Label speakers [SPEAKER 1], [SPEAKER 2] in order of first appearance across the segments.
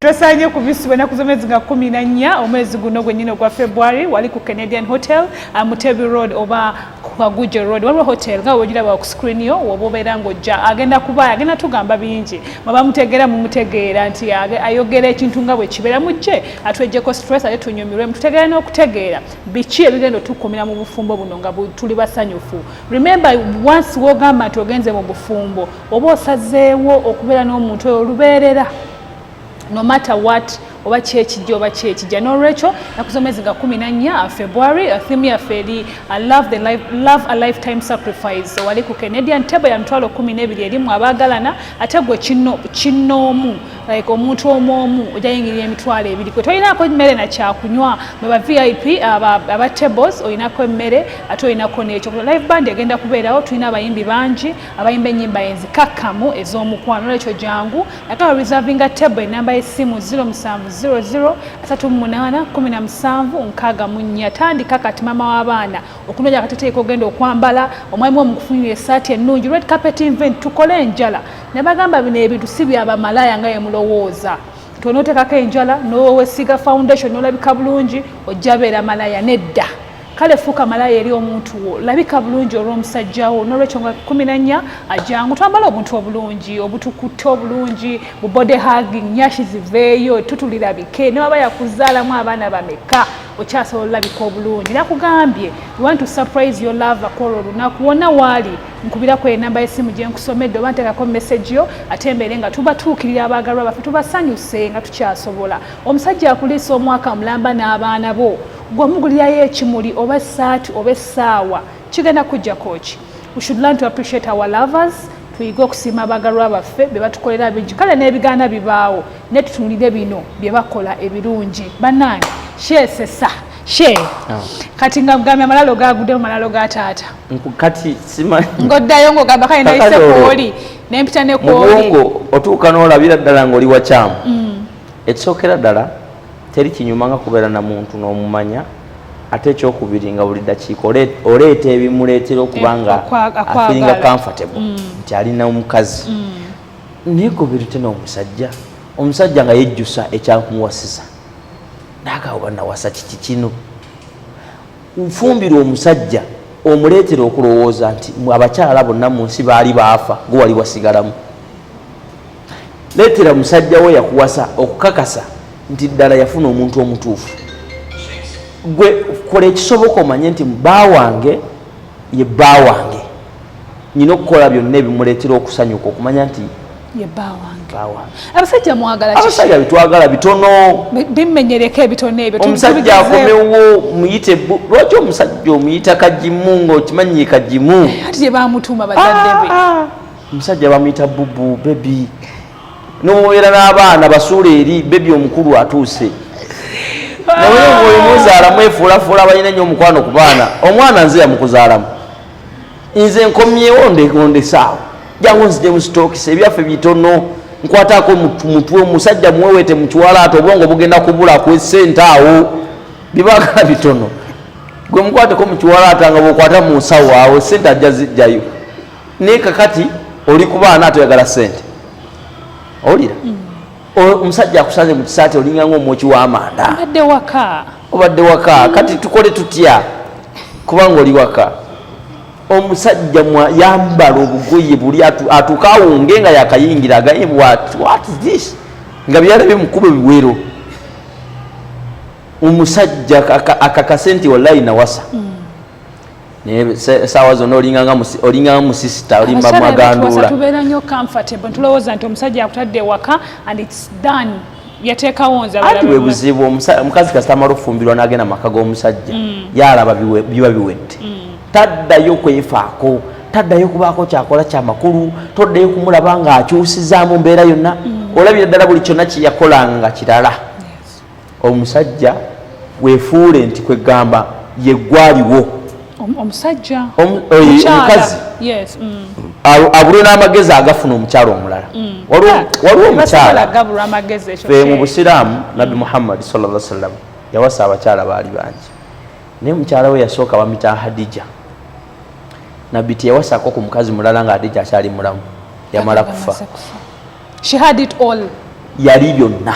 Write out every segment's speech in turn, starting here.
[SPEAKER 1] Twesanye ku visi bwenaku z'omwezi nga kumi na nnya omwezi guno gwennyini ogwa February wali ku Canadian Hotel uh, Mutebi Road oba Kaguje Road waliwo hotel nga wegiraba ku screen yo woba obeera ng'ojja agenda kuba agenda tugamba bingi mwaba mutegeera mumutegeera nti ayogera ekintu nga bwe kibeera mu kye atwejjeko stress ate tunyumirwe mututegeera n'okutegeera biki ebigenda otukumira mu bufumbo buno nga tuli basanyufu remember once wogamba nti ogenze mu bufumbo oba osazeewo okubeera n'omuntu oyo olubeerera no matter what oba kyekijja oba kyekijja nolwekyo nakuzomezi nga kumi nanya uh, february uh, thimu yaffe eri uh, love a lifetime sacrifice wali ku canadian table ya mitwalo kumi nebiri erimu abaagalana ate gwe kinnoomu like omuntu omu omu ojayingirira emitwalo ebiri kwe tolinako emmere nakyakunywa mweba vip aba tables olinako emmere ate olinako nekyo live band egenda kubeerawo tulina abayimbi bangi abayimba ennyimba enzikakkamu ez'omukwano olwekyo jangu nakaba reservinga table enamba y'essimu 0700381764 tandika kati maama w'abaana okunoonya akateteeka ogenda okwambala omwami wo mukufunira esaati ennungi red carpet invent tukole enjala nabagamba bino ebintu si byabamalaya nga yemulowooza tonotekako enjala nowesiga foundation nolabika bulungi ojja beera malaya nedda kale fuuka malaya eri omuntu wo labika bulungi olw'omusajja wo n'olwekyo nga kumi na nnya ajangu twambala obuntu obulungi obutukutte obulungi bu body hugging nyashi ziveeyo tutulirabike ne waba yakuzaalamu abaana bameka okyasobola olabika obulungi nakugambye want to surprise your lover kwolwo olunaku wonna waali nkubirako enamba y'essimu gye nkusomedde oba nteekako message yo ate mbeere nga tubatuukirira abaagalwa baffe tubasanyuse nga tukyasobola omusajja akuliisa omwaka mulamba n'abaana bo gwe omugulirayo ekimuli oba esaati oba essaawa kigenda kujjako ki we should learn to appreciate our lovers tuyige okusiima abagalwa baffe be batukolera bingi kale n'ebigaana bibaawo naye tutunulire bino bye bakola ebirungi bannange sheesesa she ah. kati nga mugambye amalalo gaguddemu malalo ga taata kati
[SPEAKER 2] simanyi ng'oddayo ng'ogamba
[SPEAKER 1] kale nayise kwoli nempita ne kwoli otuuka
[SPEAKER 2] n'olabira ddala ng'oli wakyamu mm. ekisookera ddala teri kinyuma nga kubeera na muntu n'omumanya ate ekyokubiri nga buli dakiika oleeta ebimuleetera okuba eh, nga afiringa comfortable mm. nti alina omukazi mm. naye kubiri tena omusajja omusajja nga yejjusa ekyamuwasiza nagaoba nawasa kiki kino nfumbirwa omusajja omuleetera okulowooza nti abakyala bonna mu nsi baali baafa gwewali wasigalamu Leetera musajja wo yakuwasa okukakasa nti ddala yafuna omuntu omutuufu. Gwe kola ekisoboka omanye nti bba wange ye bba wange. Nina okukola byonna ebimuleetera okusanyuka okumanya nti ye bba
[SPEAKER 1] wange. Abasajja mwagala kiki? Abasajja bitwagala
[SPEAKER 2] bitono. Bimenyereko
[SPEAKER 1] ebitono ebyo. Omusajja akomewo
[SPEAKER 2] muyite bu. Lwaki omusajja omuyita kagimu ng'okimanyi kagimu? Ati gye baamutuuma
[SPEAKER 1] bazadde be. Ah, ah. omusajja
[SPEAKER 2] bamuyita bubu bebi nomubeera n'abaana basuula eri bebi omukulu atuuse naye oyo muzaalamu efuulafuula balina nnyo omukwano ku baana omwana nze yamukuzaalamu nze nkomyewo ndekondesaawo jangu nzije musitokisa ebyaffe bitono nkwatako mutwe omusajja muwewete mukiwala ati obwongo bugenda kubula kwesente awo bibagala bitono gwe mukwateko mukiwala ata nga bwokwata munsawo awo sente ajja zijjayo naye kakati oli kubaana atoyagala sente owulira mm. omusajja akusanze mu kisaati olinga ngaomwoki w'amanda obadde waka obadde waka kati tukole tutya kubanga oli waka omusajja yambala obugoye buli atuuka awunge nga yakayingira agaye this nga byalabye mukuba ebiwero omusajja akakase nti wallayi nawasa mm. naye saawa zonna olinganga musisita olimba maganduula tubeera nyo comfortable
[SPEAKER 1] ntulowooza nti omusajja akutadde ewaka and its done yateekawo nze ati bwe buzibu
[SPEAKER 2] omukazi kasita amala okufumbirwa n'agenda mu maka g'omusajja mm. yalaba biba biwedde mm. taddayo kwefaako taddayo kubaako kyakola kyamakulu toddayo kumulaba ng'akyusizaamu mbeera yonna mm. olabira ddala buli kyonna kyeyakolanga kirala omusajja wefuule nti kwegamba yegwaliwo
[SPEAKER 1] omusajja
[SPEAKER 2] omukazi mm. abulwe n'amagezi agafuna omukyalo omulala mm. waliwo omukyala fe mu busiraamu nabbi mm. muhammadi salla sallam yawasa abakyala baali bangi naye mukyala we yasooka bamita hadija nabbi teyawasako ku mukazi mulala nga hadija akyali mulamu yamala kufa She
[SPEAKER 1] had it all. Yali byonna.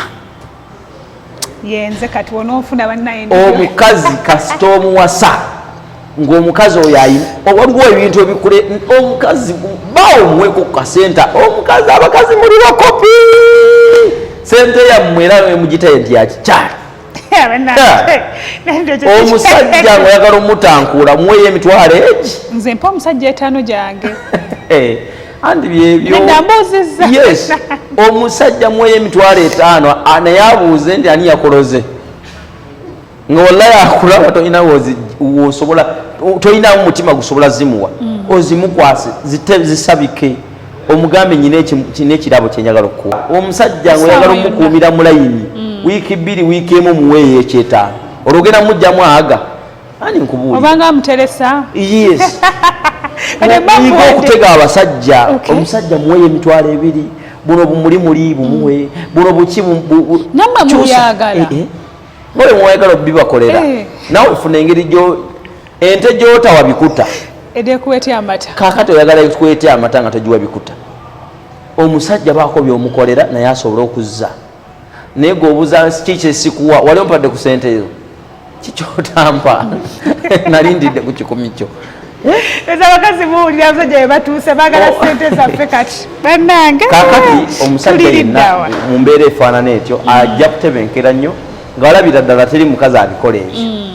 [SPEAKER 2] Yenze
[SPEAKER 1] kati wonofuna bannaye. Omukazi
[SPEAKER 2] kasita omuwasa ng'omukazi oyo ayina waliwo ebintu ebikule omukazi bawo omuweko ku kasenta omukazi abakazi muli bakopi sente yammwe era mugitaye nti yakikyali omusajja ngaoyagala omutankuula muweyo emitwalo egi nze mpa omusajja
[SPEAKER 1] etaano gyange eh,
[SPEAKER 2] andi byebyoyes omusajja muweyo emitwalo etaano naye abuuze nti ani yakoloze nga wallayi akulaba tolina wosobola tolinamu mutima gusobola zimuwa mm. ozimukwase zisabike zi omugambe nyina ekirabo kyenjagala okukuwa omusajja ngaoyagala omukuumira mulayini mm. wiiki bbiri wiiki emu muweeyo ekyetaano olwogenda mujjamu aga ani nkubuulobanga amuteresa
[SPEAKER 1] yes
[SPEAKER 2] yiga okutega abasajja omusajja muweeyo emitwalo ebiri buno bumuli muli bumuwe mm. buno buki namwe
[SPEAKER 1] muyagala eh, eh. oyo
[SPEAKER 2] mwayagala obibakolera eh. nawe funa engeri ente gyotawa bikuta edekwete
[SPEAKER 1] amata kakati oyagala ekwete
[SPEAKER 2] amata nga togiwa bikuta omusajja baako byomukolera naye asobole okuzza naye gweobuza kikyesikuwa wali ompadde ku sente ezo kikyotampa nalindidde ku kikumi kyo eza
[SPEAKER 1] bakazi buwulira abasajja bebatuuse bagala oh. sente zaffe kati banange kakati omusajja
[SPEAKER 2] yenna mu mbeera efaanana etyo mm. ajja kutebenkera nnyo nga walabira ddala teri mukazi abikola ekyo mm.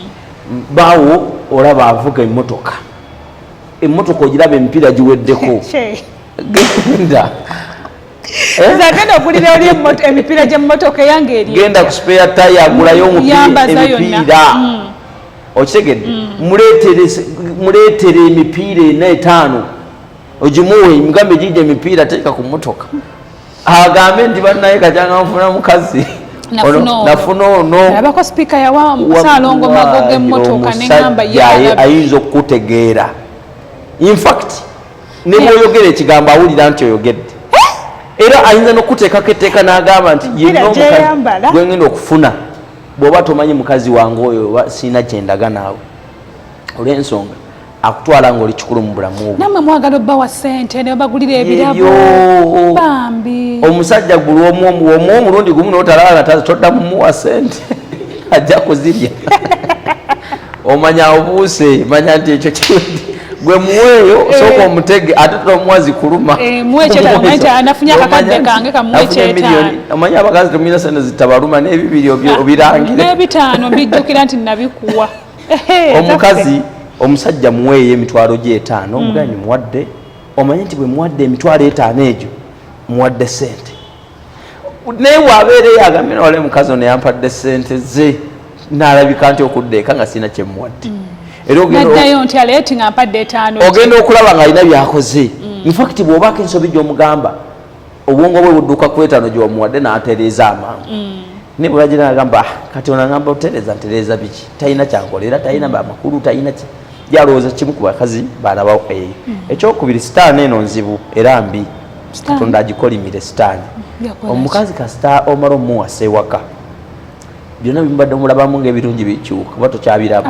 [SPEAKER 2] baawo olaba avuga emmotoka emmotoka ogiraba emipiira giweddeko genda
[SPEAKER 1] zagenda eh? ogulira oli emipiira gyemmotoka eyange eri genda ku spare taya
[SPEAKER 2] agulayo emipiira mm. okitegedde mm. muleetere emipiira ena etaano ogimuwe mugambe gija emipiira teeka ku mmotoka agambe nti bannaye kajanga nfuna mukazi nafuna onoabako sipiika yawa
[SPEAKER 1] musalongo mago gemotoka neamba ayinza
[SPEAKER 2] okukutegeera infact nebwoyogera ekigambo awulira nti oyogedde eh? era ayinza nokuteekako etteeka nagamba nti yegwengenda okufuna bwoba tomanyi mukazi wange oyo sirina kyendaga naawe olwensonga akutwala nga oli kikulu mu bulamu bwo namwe mwagala obba wa
[SPEAKER 1] ssente ne bagulira ebirabo bambi omusajja gulu
[SPEAKER 2] omu omu omu omulundi gumu notalala todda mumuwa ssente ajja kuzirya omanya obuuse manya nti ekyo kiwedde gwe muweeyo eh. sooka omutege ate tomuwa zikuluma
[SPEAKER 1] eh, omanya abakazi temuyina
[SPEAKER 2] sente zitabaluma n'ebibiri obirangire n'ebitaano mbijjukira
[SPEAKER 1] nti nabikuwa omukazi
[SPEAKER 2] omusajja muweeyo emitwalo gye etaano mm. omuganyi muwadde omanye nti bwe muwadde emitwalo etaano egyo muwadde sente naye wabeera eyagambye nawale mukazi ono yampadde sente ze nalabika nti okudda eka nga sirina kyemuwadde mm. era
[SPEAKER 1] ogenda okulaba nga alina
[SPEAKER 2] byakoze mm. infact bwobako ensobi gyomugamba obwongo bwe budduka ku etaano gye wamuwadde n'atereeza amangu mm. naye bwe bagira agamba ah, kati ono agamba otereeza ntereeza biki talina kyankolera talina amakulu talina ki yalowooza kimu ku bakazi baana ba eyo mm. ekyokubiri sitaani eno nzibu era mbi katonda agikolimire sitaani omukazi kasita omala omuwasa ewaka byonna bimubadde mulabamu ngaebirungi bikyuka kuba tokyabiraba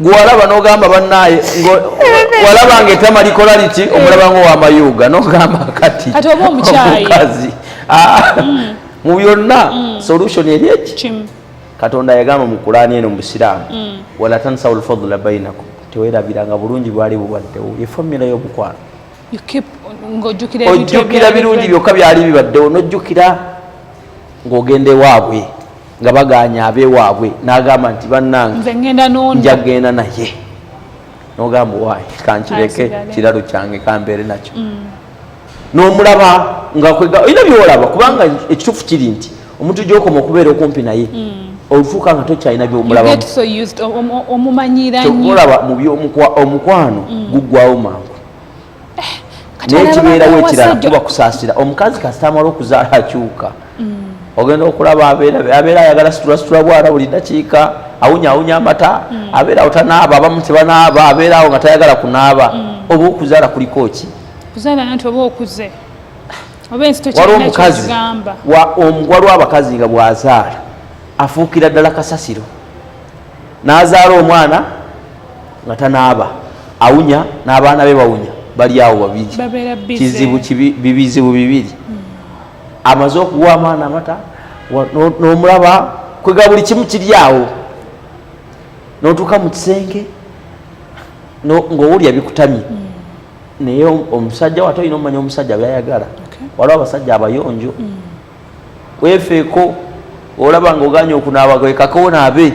[SPEAKER 2] gwalaba nogamba banaye walaba nga etama likola liki eh. omulaba nga owamayuuga nogamba kati omukazi ah, mm. mu byonna mm. solution eri eki katonda yagamba mu kulaani eno mubusiraamu mm. wala tansawu lfadula bainakum tewerabiranga bulungi bwali bubaddewo efamira yobukwano ojjukira birungi byokka byali bibaddewo nojjukira ng'ogenda ewaabwe nga baganya abewaabwe n'agamba nti bannange nja genda naye nogamba owaye kankireke kiralo kyange kambeere nakyo mm. nomulaba ngaoina byolaba kubanga ekituufu kiri nti omuntu gyokoma okubeera okumpi naye mm. olufuuka nga tokyalina byomulabamubyomukwa omukwano mm. guggwawo mangu naye kibeerawo ekirala kuba kusaasira omukazi kasita amala okuzaala akyuka mm. ogenda okulaba abeera ayagala situlasitula bwana buli dakiika awunyawunya amata mm. abeera awo tanaaba abamu tebanaaba abeera awo nga tayagala kunaaba mm. oba okuzaala kuliko ki waliwo omukazi waliwo abakazi nga bwazaala afuukira ddala kasasiro n'azaala omwana nga tanaaba awunya n'abaana be bawunya bali awo babiri kizibu bibizibu bibiri hmm. amaze okuwa amaana amata n'omulaba kwega buli kimu kiri awo n'otuuka mu kisenge ng'owulya bikutamye hmm. naye omusajja wate olina omumanya omusajja byayagala waliwo abasajja abayonjo hmm. wefeeko olaba nga oganye okunaaba kwekako onaabe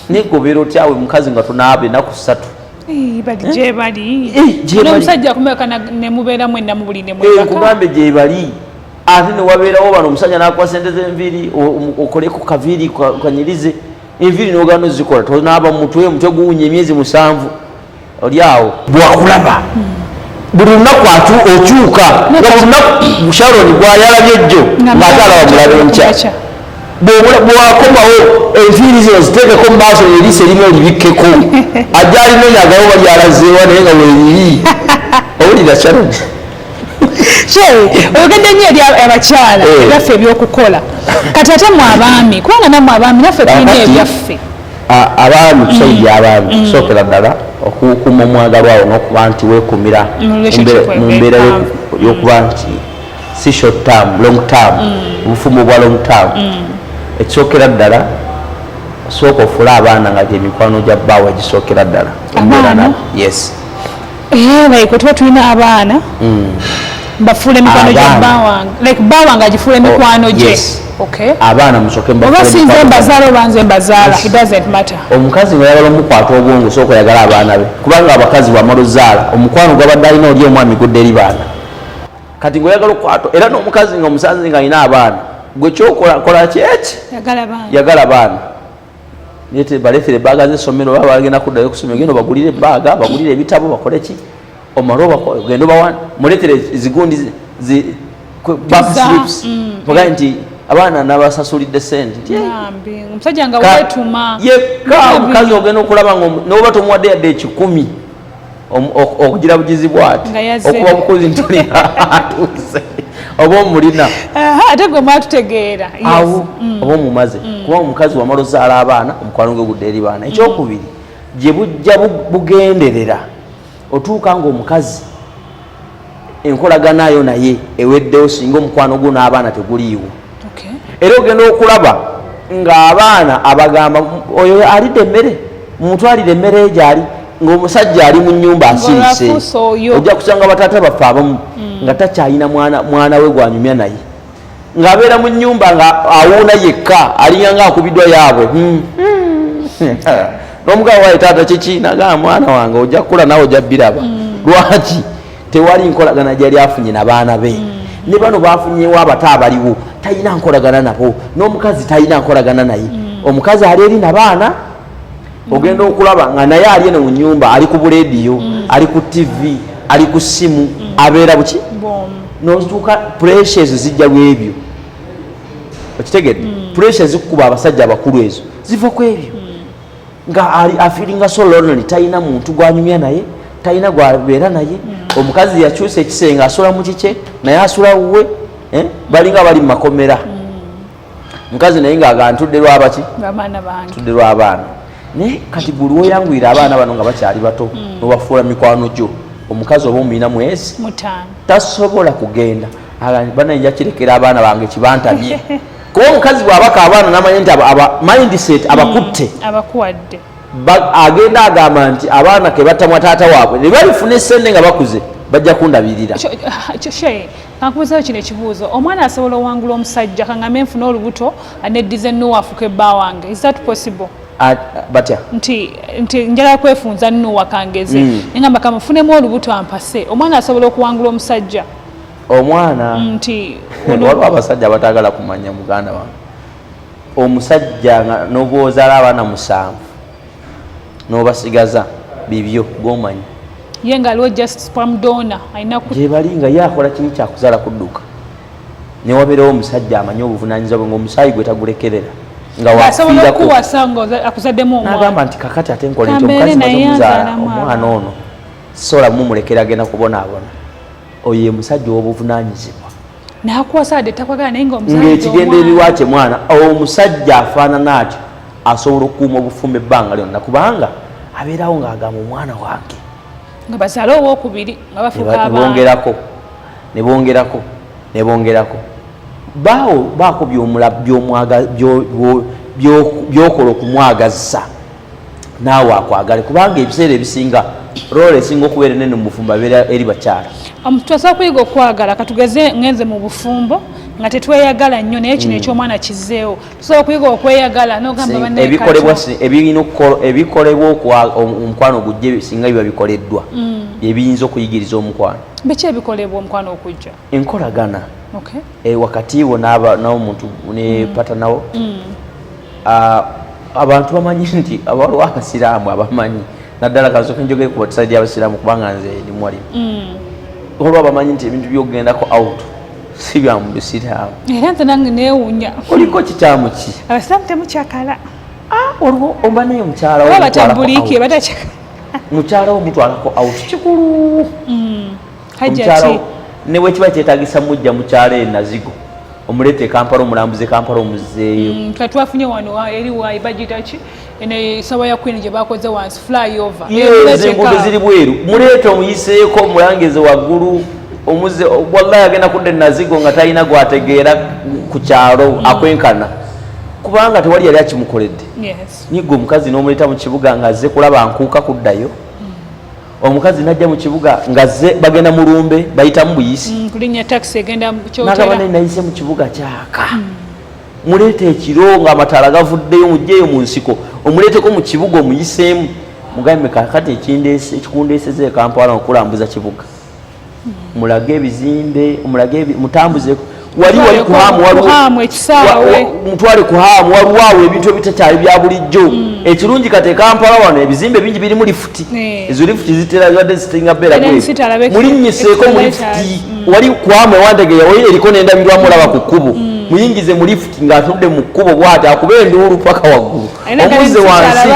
[SPEAKER 2] negobera otyawe mukazi nga tunaabe naku satu nkugambe gyebali ate newabeerawo bano omusajja nakuwa sente zenviiri okoleku kaviiri kanyirize enviiri nogana ozikola tonaaba mutwe omutwe guwunya emyezi musanvu oli awo bwakulaba buli lunaku okyuka olunaku sharoni gwayalabye jjo ngaate alaba mulaba enkya bwakomawo enviiri zino ziteekeko mu maaso neriisa erimu olibikkeko ajja alinoonya agawo balyalazeewa naye nga weriri owulira sharoni oyogedde
[SPEAKER 1] nyo eri abakyala eh. ebyaffe ebyokukola kati ate mu abaami kubanga namwe abaami naffe tulina ebyaffe abaami
[SPEAKER 2] tusajja mm. abaami mm. kusokera ddala okukuuma omwagalwa awo nokuba nti wekumira mu mbeera yokuba mm. nti si short term long term obufumbo bwa long term ekisokera ddala sooka ofule abaana nga gyemikwano gya bbaawo egisokera ddala yes
[SPEAKER 1] Eh, like otuba tulina abaana hmm. bafuula emikwano gya bawange like bawange agifuula oh, emikwano gye abaana
[SPEAKER 2] musokeoba sinze mbazaala
[SPEAKER 1] oba nze mbazaala it doesn't matter omukazi weyagala
[SPEAKER 2] omukwata obwongo osooka oyagala abaana be kubanga abakazi bwamala ozaala omukwano gwabadde alina oli omwami gudde eri baana kati ngaoyagala okukwata era n'omukazi nga omusanze nga alina abaana gwe kyokola kola kyeki yagala baana balekere ebbaaga zesomero baba bagenda kuddayo kusomero genda obagulire ebbaaga bagulire ebitabo bakole ki omale ogenda obawa mulekere zigundi backslips mm. ogae nti abaana nabasasulidde sente omusajja nga
[SPEAKER 1] wetuma yekka omukazi
[SPEAKER 2] ogenda okulaba noba tomuwadde yadde ekikumi okugira bugizi bwati okuba bukuzi ntuli atuuse oba omulina ate gwe
[SPEAKER 1] mwatutegeera awo mm.
[SPEAKER 2] oba omumaze mm. kuba omukazi wamala ozaala abaana omukwano gwe gudde eri baana ekyokubiri gye bujja bugenderera otuuka ngaomukazi enkolaganayo naye eweddewo singa omukwano gwo n'abaana teguliiwo era ogenda okulaba ng'abaana abagamba oyo alidde emmere mumutwalire emmere egyali ng'omusajja ali mu nyumba asirise ojja kusanga bataata baffe abamu hmm. nga takyalina mwana we gwanyumya naye ng'abeera mu nnyumba nga awuuna yekka alinga nga akubiddwa yaabwe hmm. Hmm. n'omugabo waye taata kiki nagaa mwana wange ojja kukula nawe ojja biraba hmm. lwaki tewali nkolagana gyali afunye na baana be ne bano bafunyewo abato abaliwo talina nkolagana nabo n'omukazi talina nkolagana naye omukazi ali eri na baana ogenda okulaba nga naye ali eno mu nyumba ali ku bulediyo mm. ali ku tivi ali ku simu mm. abeera buki notuuka puresha ezo zijja lwebyo okitegedde mm. puresha zikukuba abasajja abakulu ezo ziva ku ebyo nga ali afiringa so lonely talina muntu gwanyumya naye talina gwabeera naye omukazi yakyusa ekisenge asula mu kikye naye asula wuwe eh? balinga bali mu makomera mukazi naye ngaaga ntudde lwabaki tudde lwabaana naye kati gwe lwoyanguyira abaana bano nga bakyali bato hmm. nobafuula mikwano gyo omukazi oba omuyina mwezi tasobola kugenda bana nja kirekera abaana bange kibantamye kuba omukazi bwabaka abaana namanya nti mindset hmm. abakutte
[SPEAKER 1] agenda
[SPEAKER 2] agamba nti abaana kebatamwa taata waabwe nebalifuna esente nga bakuze bajja kundabirira
[SPEAKER 1] Kankubuzeyo kino ekibuuzo omwana asobola owangula omusajja kangame nfuna olubuto neddiza enuwa afuka ebba wange is that possible batya
[SPEAKER 2] nti nti
[SPEAKER 1] njala kwefunza nuwa kangeze mm. ngamba kamufunemu olubuto ampase omwana asobola okuwangula omusajja
[SPEAKER 2] omwana mm, nti waliwo abasajja
[SPEAKER 1] abatagala
[SPEAKER 2] kumanya muganda wange omusajja nga nobwozala abaana musanvu nobasigaza bibyo gomanyi ye nga aliwo
[SPEAKER 1] just spam donor alina gyebali nga ye akola
[SPEAKER 2] kiri kyakuzaala kudduka newabeerawo omusajja amanyi obuvunanyizibwa bwe ngaomusaayi gwe tagulekerera
[SPEAKER 1] ngawafiirakonagamba nti kakati ate nkola
[SPEAKER 2] nti omukazi mazomuzaala omwana ono sola mumulekera agenda kubonaabona oyo ye musajja owobuvunanyizibwa
[SPEAKER 1] ng'ekigendererwa
[SPEAKER 2] kye mwana omusajja afaanana atyo asobola okukuuma obufumba ebbanga lyonna kubanga abeerawo ng'agamba omwana wange nga bazaala
[SPEAKER 1] owokubiri nga bafukaabongerako ne bongerako
[SPEAKER 2] ne bongerako baawo baako by'okola okumwagazza naawe akwagale kubanga ebiseera ebisinga role esinga okubeera enene mu bufumbo abeera eri bakyala um, tusobola kuyiga
[SPEAKER 1] okwagala katugeze ngenze mu bufumbo nga tetweyagala nnyo naye kino mm. ekyomwana kizeewo tusobola okuyiga okweyagala nogambaebikolebwa ebikolebwa
[SPEAKER 2] omukwano ogujja singa biba bikoleddwa mm. byebiyinza okuyigiriza omukwano biki ebikolebwa
[SPEAKER 1] omukwano okujja enkolagana
[SPEAKER 2] okay. e, wakati wo naba nawo muntu ne mm. pata nawo mm. uh, abantu bamanyi nti abaliwo abasiraamu abamanyi naddala kansoka njogere ku watisaidi abasiraamu kubanga nze ndi mwali mm. olwo abamanyi nti ebintu byokugendako out si bya mu bisiraamu era nze nange
[SPEAKER 1] neewunya oliko kikyamu
[SPEAKER 2] ki abasiraamu temukyakala
[SPEAKER 1] ah, olwo
[SPEAKER 2] oba naye mukyala wo mukyala wo mutwalako out kikulu mm. hajjati ne wekiba kyetagisa mujja mukyalo e nazigo omuleeta e kampala omulambuza e kampala omuzzeeyo mm, twafunye wano
[SPEAKER 1] eri wayi bajita ki esawa ya queen gye bakoze wansi flyover enguudo ziri
[SPEAKER 2] bweru muleeta omuyiseeko omulangeze waggulu omuze wallahi agenda kudda enazigo nga talina gwategeera ku kyalo mm. akwenkana kubanga tewali yali akimukoledde nyiga omukazi n'omuleeta mu kibuga nga azze kulaba nkuuka kuddayo omukazi najja mu kibuga ngazze bagenda mu lumbe bayitamu buyisi mm, kulinya taxi egenda
[SPEAKER 1] mukyotera nayise
[SPEAKER 2] mu kibuga kyaka mm. muleeta ekiro nga amataala gavuddeyo mujjeeyo mu nsiko omuleeteko mu kibuga omuyiseemu mugambe kakati ekindeese ekikundeeseza ekampala okulambuza kibuga mulage ebizimbe mulage mutambuze wali wali kuhamu
[SPEAKER 1] mutwale kuhamu
[SPEAKER 2] waliwo awo ebintu ebitakyali bya bulijjo hmm. ekirungi kati ekampala wano ebizimbe bingi birimu lifuti eh. ezo lifuti zitera zibadde zisinga beera mulinnyiseeko mu lifuti hmm. wali kuhamu ewandegeya wali eriko n'endabirwamu olaba ku kkubo hmm. muyingize mu lifuti ng'atunudde mu kkubo bwati akuba enduulu paka waggulu omuze wansi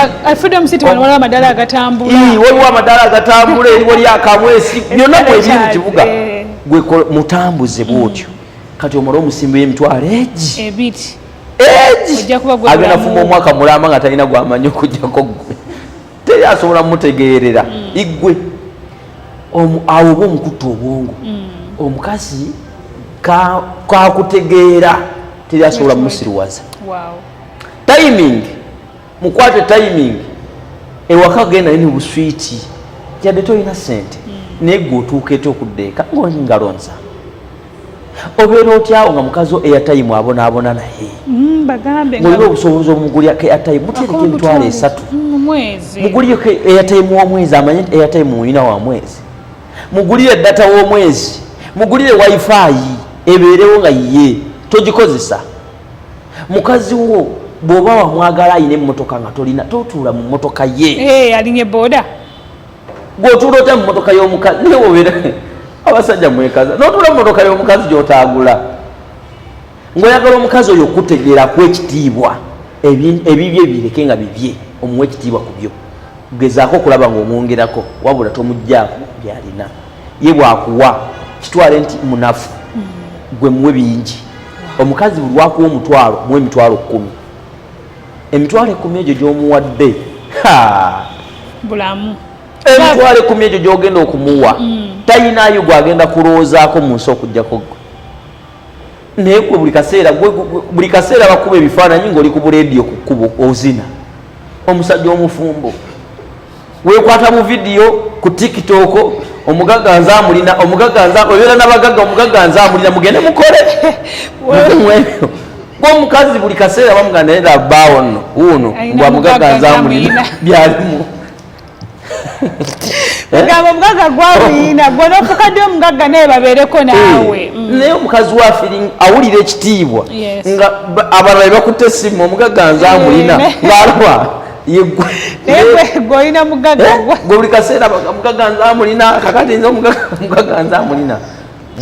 [SPEAKER 2] waliwo amadaala agatambula eriwo lyakamwesi byonna mwebiri mu kibuga eh. gwe mutambuze bwotyo mm. kati omala omusimbi emitwalo egi ebiti agenda fuma omwaka mulamba nga talina gwamanyi okujjako gwe teri asobola mutegeerera mm. igwe awo oba omukutta obwongo mm. omukazi kakutegeera teri asobola musiriwaza timing mukwate timing ewaka genda yini buswiti yadde tolina sente hmm. naye gwe otuuka etya okudda eka ngaoli ngalonza obeera otyawo nga mukazi eyatayimu abonaabona naye hmm, mulina obusobozi omuguliyako eyatayimu mutereka emitwalo esatu hmm, muguliyeko eyatayimu womwezi amanye eyatayimu mulina wa mwezi mugulire data womwezi mugulire wifi ebeerewo nga yiye togikozesa mukazi wo bwoba wamwagala ayina emotoka nga tolina totuula mu motoka ye eh, alinye boda gwotuula otya mu motoka yomukazi naye wobeera abasajja mwekaza notuula mu motoka yomukazi gyotagula ngaoyagala omukazi oyo okutegeera ku ekitiibwa ebibye bireke nga bibye omuwa ekitiibwa ku byo gezaako okulaba ngaomwongerako wabula tomugjaako byalina ye bwakuwa kitwale nti munafu mm. gwe muwe bingi omukazi buli wakuwa omutwalo muwe emitwalo kkumi emitwalo ekkumi egyo gyomuwadde
[SPEAKER 1] bulamu emitwalo ekkumi
[SPEAKER 2] egyo gyogenda okumuwa mm. tayinayo gwagenda kulowoozaako mu nsi okujjako gwe naye gwe buli kaseera buli kaseera bakuba ebifaananyi ngaoli ku buleediyo ku kkubo ozina omusajja omufumbo wekwata mu vidiyo ku tiktok omugaga nze amulina omugaga nze obeera nabagaga omugaga nze amulina mugende mukole mwebyo gwomukazi buli kaseera bamuga naye labaawo nno wuuno mbwa mugaga nze amulina byalimu eh?
[SPEAKER 1] gamba omugaga gwamuyina gwe nofukadde omugagga naye babeereko eh, naawe mm. naye omukazi wa
[SPEAKER 2] feeling awulira ekitiibwa nga abalala bebakutte essimu omugaga nze amulina eh, ngaalwa gwolina
[SPEAKER 1] mugagagwebuli eh? kaseera
[SPEAKER 2] mugaga nze amulina kakati nze mugaga nze amulina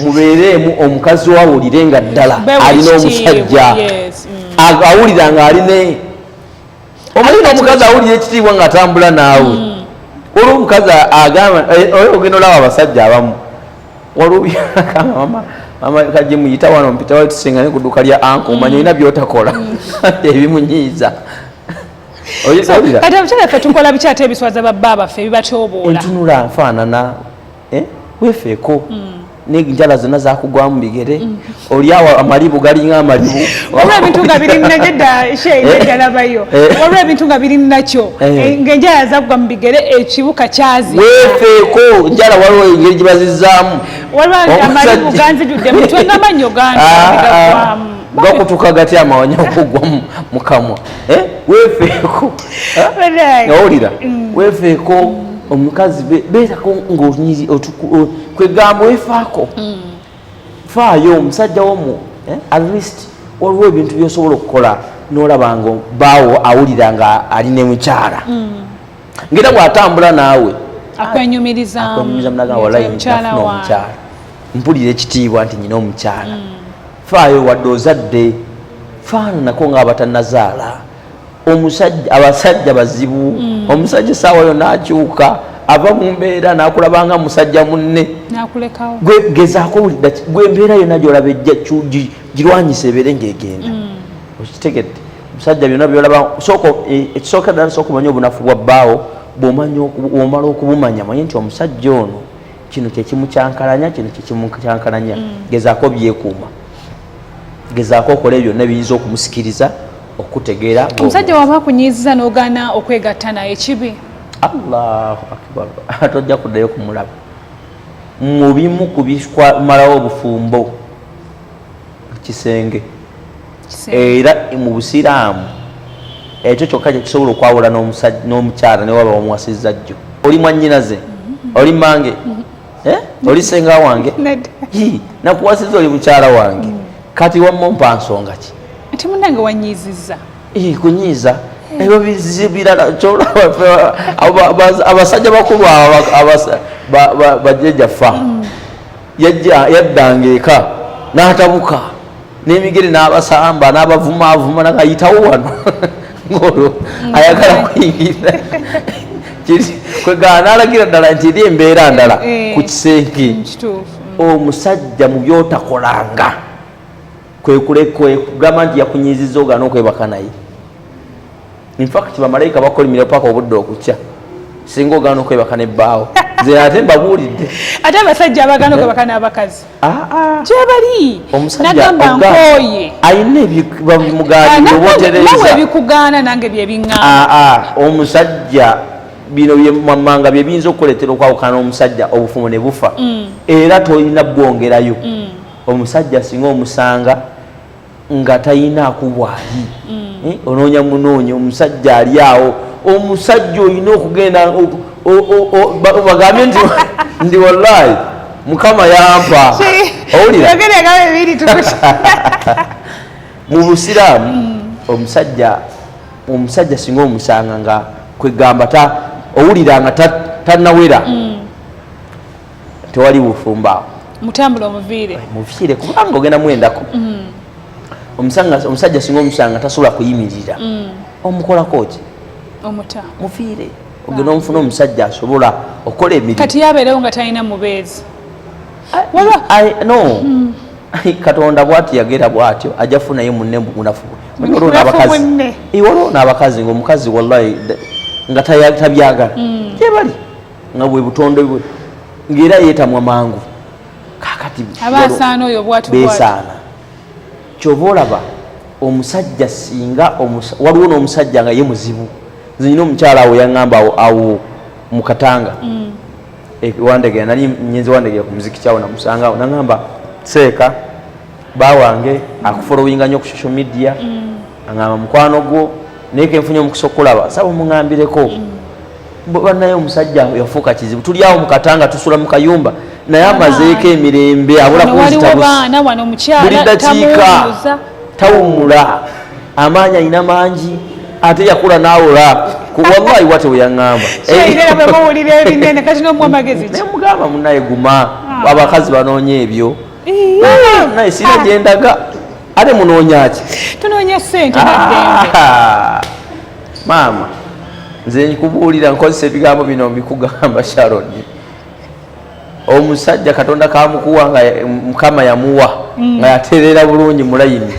[SPEAKER 2] mubeereemu omukazi wawulire nga ddala alina omusajja mm. awulira nga aline omulina omukazi awulira ekitiibwa nga atambula naawe mm. olwo omukazi agamba eh, eh, ogenda olaba abasajja abamu waliwo byagamba mama mama kaje muyita wano mpitawo tusinga ne ku dduuka lya anka omanya mm. olina byotakola ebimunyiiza
[SPEAKER 1] kati abakyala ffe tukola biki ate ebiswaza babba baffe ebibatyoboola entunula nfaanana
[SPEAKER 2] eh? wefeeko mm. nenjala zonna zakugwamu bigere mm. olyawo amalibu galinga amalibu waliwo ebintu nga biri
[SPEAKER 1] najeda sheedalabayo eh? eh? waliwo ebintu nga biri nakyo ngaenjala zakugwa mu bigere ekibuka kyazi wefeeko
[SPEAKER 2] njala waliwo engeri gibazizaamu waliwo amalibu
[SPEAKER 1] ganzijudde mutwe ngamanyo gange ah, ah. gakutuka
[SPEAKER 2] gatya amawanya okugwa mu kamwa eh? wefeeko eh? nawulira mm. wefeeko omukazi beerako ngaonyizi kwegamba wefaako mm. faayo omusajja womu eh? at least waliwo ebintu byosobola okukola nolaba nga baawo awulira nga ali ne mukyala mm. ngaera bwatambula naawe akwenyumirizamuakwenyumirizamu
[SPEAKER 1] naga walayi
[SPEAKER 2] nafuna omukyala mpulira ekitiibwa nti nyina omukyala faayo wadde ozadde faananako ngaabatanazaala omusajja abasajja bazibu mm. omusajja esaawa yo nakyuka ava mu mbeera nakulabanga musajja munne gezaako gwe embeera yona gyolaba ejja girwanyisa ebeere ngaegenda mm. okitegedde omusajja byona byolaba e, ekisooka ddala sooka omanya obunafu bwa bbaawo bwomala okubumanya manye nti omusajja ono kino kyekimukyankalanya kino kyekimukyankalanya mm. gezaako byekuuma gezaako okola ebyo byonna biyinza okumusikiriza okutegeera omusajja waba
[SPEAKER 1] akunyiiziza n'ogaana okwegatta naye kibi allahu
[SPEAKER 2] akbar ate ojja kuddayo kumulaba mubimu kubikumalawo obufumbo kisenge era mu busiraamu ekyo kyokka kyekisobola okwawula n'omukyala newaba omuwasizza jjo oli mwanyinaze mm-hmm. oli mange mm-hmm. eh? oli senga wange nakuwasizza oli mukyala wange mm. kati wamumpa nsonga ki ati munange
[SPEAKER 1] wanyiizizza eh, kunyiiza
[SPEAKER 2] eh. ebyo birala abasajja bakulu bajjajaffa mm. yaddanga eka n'atabuka n'emigere n'abasamba n'abavumaavuma nagayitawo wano ng'olwo mm. ayagala kuyingira kwegana n'alagira ddala nti eri embeera ndala eh, eh. ku kisenge mm, omusajja mu byotakolanga kwekulekugamba nti yakunyiziza ogana okwebaka naye infact bamalayika bakolimira paka obudde okukya singa ogana okwebaka nebbaawo nze ate mbabuulidde ate abasajja
[SPEAKER 1] abagana eh? okwebaka n'abakazi ah, ah. gyebali nagamba nkooye alina
[SPEAKER 2] ebimugaanawe ebikugaana nange
[SPEAKER 1] byebiŋaa ah, omusajja
[SPEAKER 2] bino byemamanga bye biyinza okukuleetera okwawukana n'omusajja obufumu ne bufa mm. era tolina bwongerayo mm. omusajja singa omusanga nga tayina kubwali mm. eh, ononya munonya omusajja ali awo omusajja oyina okugenda bagambye nti ndi wallahi mukama yampa owulira mu busiraamu mm. omusajja omusajja singa omusanga nga kwegamba owulira nga tanawera mm. tewali bufumbo awo mutambula omuviire
[SPEAKER 1] muviire kubanga ogenda
[SPEAKER 2] mwendako mm. omusajja singa omusanga tasobola kuyimirira mm. omukolako ki omuta muviire ogenda ah. omufuna omusajja asobola okola emirimu kati yabeerewo nga talina
[SPEAKER 1] mubeezi no
[SPEAKER 2] mm. katonda bwati yagera bwatyo ajja funaye munne munafu waliwo n'abakazi ngaomukazi wallahi nga tabyagala gyebali nga bwe butonde bwe ng'era yeetamwa mangu kakati abaasaana oyo
[SPEAKER 1] bwati beesaana
[SPEAKER 2] kyova olaba omusajja singa waliwo n'omusajja nga ye muzibu nze nyina omukyala awo yaŋŋamba awo mu katanga mm. e, wandegera nali nyenze wandegera ku muziki kyawo namusanga awo naŋŋamba seeka ba wange akufolowinga nyo ku social media mm. angamba mukwano gwo naye kenfunye omukisa okulaba saba omungambireko mm. banaye omusajja yafuuka kizibu tuli awo mukatanga tusula mu kayumba naye amazeeko emirembe abula kunzitabuli dakiika tawumula amaanyi alina mangi ate yakula nawola wallahi wate weyaŋamba nemugamba munaye guma ah. abakazi banoonya ebyo naye sina gyendaga ate munoonyaki tunoonya sente
[SPEAKER 1] ah,
[SPEAKER 2] maama nze nkubuulira nkozesa ebigambo bino mbikugamba sharon omusajja katonda kamukuwa nga mukama yamuwa mm. nga yatereera bulungi mulayini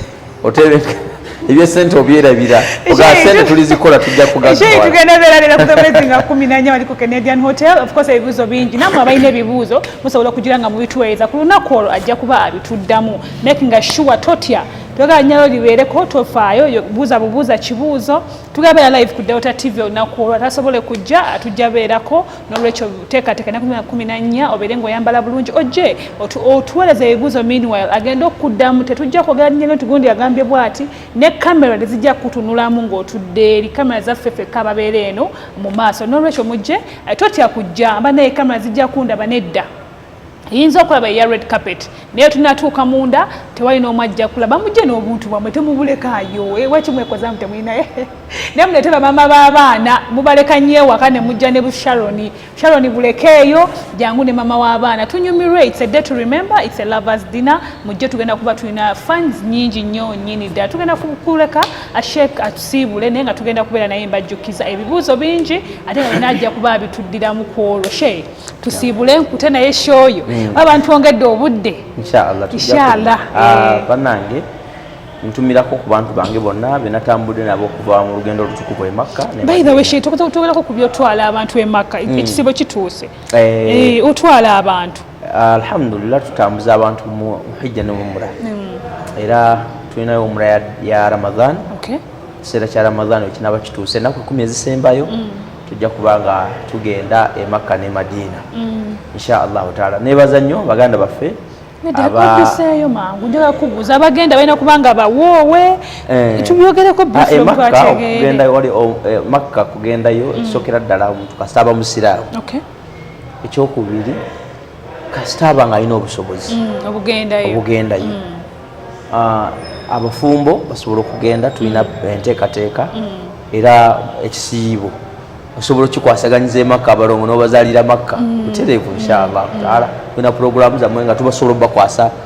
[SPEAKER 2] ebyesente obyerabira ogasente tulizikola tujja kugagtugenda berabira
[SPEAKER 1] ku gamezi nga kumi nanya wali ku canadian hotel of course ebibuuzo bingi namwe abalina ebibuuzo musobola okugira nga mubituweereza ku lunaku olwo ajja kuba abituddamu makinga sure totya twagala nyalo libeereko tofaayo buuza bubuuza kibuuzo tugabera live ku delta tv olunaku olwo atasobole kujja atujja beerako nolwekyo teekateeka naku myaka kumi nannya obeere ngaoyambala bulungi ojje otuweereza ebibuuzo meanwhile agenda okukuddamu tetujja kwogera nyeno nti gundi agambye bwati ne kamera tezijja kukutunulamu ng'otudde eri kamera zaffe fekka ababeera eno mu maaso nolwekyo mujje eh, totya kujja mba naye kamera zijja kundaba nedda yinza okulaba eya red carpet naye tunatuuka munda tewali n'omu ajja kulaba mujje n'obuntu bwamwe temubulekaayo eh, waki mwekoza mu temulinaye eh? naye mulete bamama b'abaana mubaleka nnyo ewaka ne mujja ne busharoni sharoni bulekeeyo jangu ne mama w'abaana tunyumirwe its a day to remember its a lovers dinner mujje tugenda kuba tulina fans nyingi nnyo nyini ddala tugenda kuleka ashek atusiibule naye nga tugenda kubeera naye mbajjukiza ebibuuzo bingi ate nga najja kuba abituddiramu ku olwo shee tusiibule enkute naye shoyo mm. oba abantu ongedde obudde inshallah ah, eh. banange
[SPEAKER 2] ntumirako ku bantu bange bonna benatambudde nabo okuva mu lugendo olutukuvu emakka togerako
[SPEAKER 1] ku byotwala abantu emakka mm. ekisibo kituuse eh. Eh, otwala abantu alhamdulillah
[SPEAKER 2] tutambuza abantu mu hijja ne mumura mm. era tulinayo omura ya ramadhan ekiseera kya ramadhan wekinaba kituuse enaku ekumi ezisembayo mm. tujja kuba nga tugenda e makka ne madiina mm. insha allahu taala nebaza nnyo baganda baffe abaseeyo
[SPEAKER 1] mangu njaga kubuuza abagenda balina kuba nga bawoowe eh. tubyogereko ah, eh,
[SPEAKER 2] eh, makka kugendayo mm. ekisokera ddala omuntu kasita aba musiraamu ekyokubiri kasita aba nga alina obusobozi mm, obugendayo mm. ah, abafumbo basobola okugenda tulina mm. enteekateeka era ekisiibo osobola okikwasaganyiza emakka abalongo nobazalira makka butereevu nshaallahu taala tulina pulogulaamu zammwe nga tubasobola obubakwasa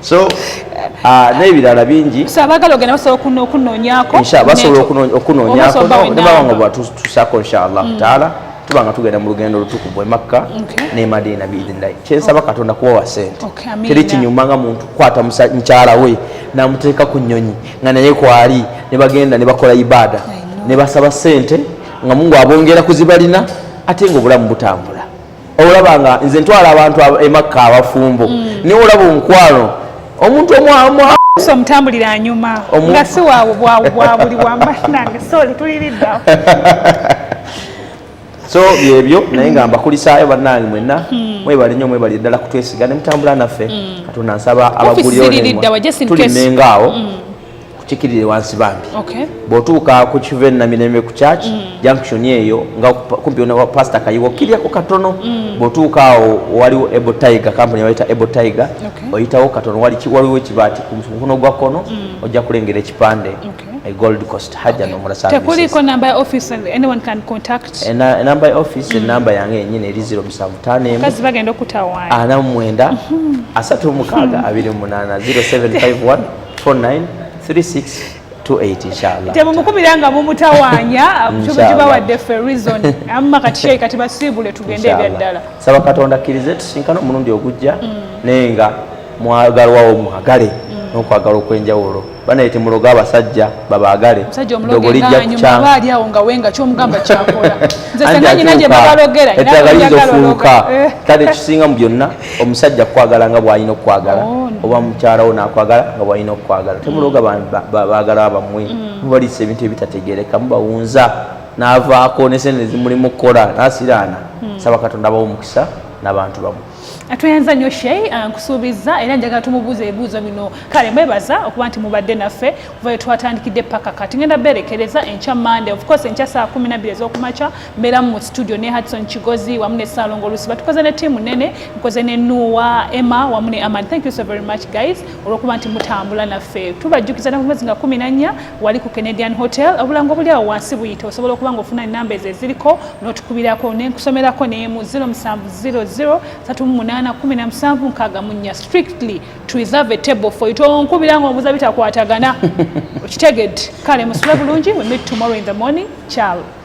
[SPEAKER 2] so ah, n'ebirala bingi
[SPEAKER 1] basobola
[SPEAKER 2] okunoonyakonebabanga bwatusaako inshallah mm. taala tuba nga tugenda mu lugendo lutukuvu emakka ne madiina biidhinilahi kyensaba katonda kuwawa sente teri kinyuma nga muntu kukwata mukyala we namuteeka ku nyonyi nga naye kwali ne bagenda ne bakola ibaada ne basaba sente nga mungu abongera kuzibalina ate nga obulamu butambula olaba nga nze ntwala abantu emakka abafumbo mm. niwe olaba omukwano omuntu omwamuso
[SPEAKER 1] omutambulira anyuma nga si waabwe bwawe bwabuli wamanange soli tuliriddawo
[SPEAKER 2] so byebyo naye nga mbakulisaayo bannange mwenna hmm. mwebale nnyo mwebali ddala kutwesiga ne mutambula naffe hmm. katonda nsaba abagulyonetulinengaawo kukikirire wansi bambi bwotuuka ku kiva enamirembe ku church mm. junction eyo nga kumpi wa pastor kayiwa okiryako katono mm. bwotuuka awo waliwo ebo tiger kampuni yawaita ebo tiger oyitawo katono waliwo ekibaati ku mukono gwa kkono mm. ojja kulengera ekipande a gold coast haja no murasa tekuli ko number office
[SPEAKER 1] and anyone can contact and eh, number office
[SPEAKER 2] mm. number yange nyine eri 0758 kazi bagenda okutawa ana mwenda
[SPEAKER 1] mm-hmm.
[SPEAKER 2] asatu mukaga mm. abiri munana 0751 temumukubira nga
[SPEAKER 1] mumutawanya kibawadde fe reason amma kati shei kati basiibule tugende ebyaddala saba katonda akkirize
[SPEAKER 2] tusinkana omulundi ogujja mm. naye nga mwagalwawo mwagale nokwagala okwenjawulo banaye temuloga abasajja babaagale dogo lijja
[SPEAKER 1] kukyaaeddagaliza ofuuka
[SPEAKER 2] kale kisinga mu byonna omusajja kukwagala nga bwalina okukwagala oh, oba mukyala wo nakwagala nga bwalina okukwagala mm. temuloga bagala bamwe mm. mubalisa ebintu ebitategereka mubawunza navaako nesente zimulimu kukola nasiraana mm. saba katonda abawo omukisa nabantu bamu atweyanza nyo
[SPEAKER 1] shei uh, nkusuubiza era njagala tumubuuza ebibuuzo bino kale mwebaza okuba nti mubadde naffe kuva etwatandikidde paka kati ngenda berekereza enkya mande ofcourse enkya saa kumi nabiri ezokumakya mbeera mu studio ne Hudson Kigozi wamu ne Salongo Olusiba tukoze ne tiimu nene nkoze ne Nuwa Emma wamu ne Aman thank you so very much guys olwokuba nti mutambula naffe tubajjukiza na kumwezi nga kumi na nnya wali ku Canadian Hotel obulango buli awo wansi buyita osobola okuba nga ofuna enamba ezo eziriko n'otukubirako nenkusomerako nemu 0700 38 17 nkaaga mu nnya strictly to reserve a table for you tonkubira nga omuza bitakwatagana okitegedde kale musule bulungi we meet tomorrow in the morning ciao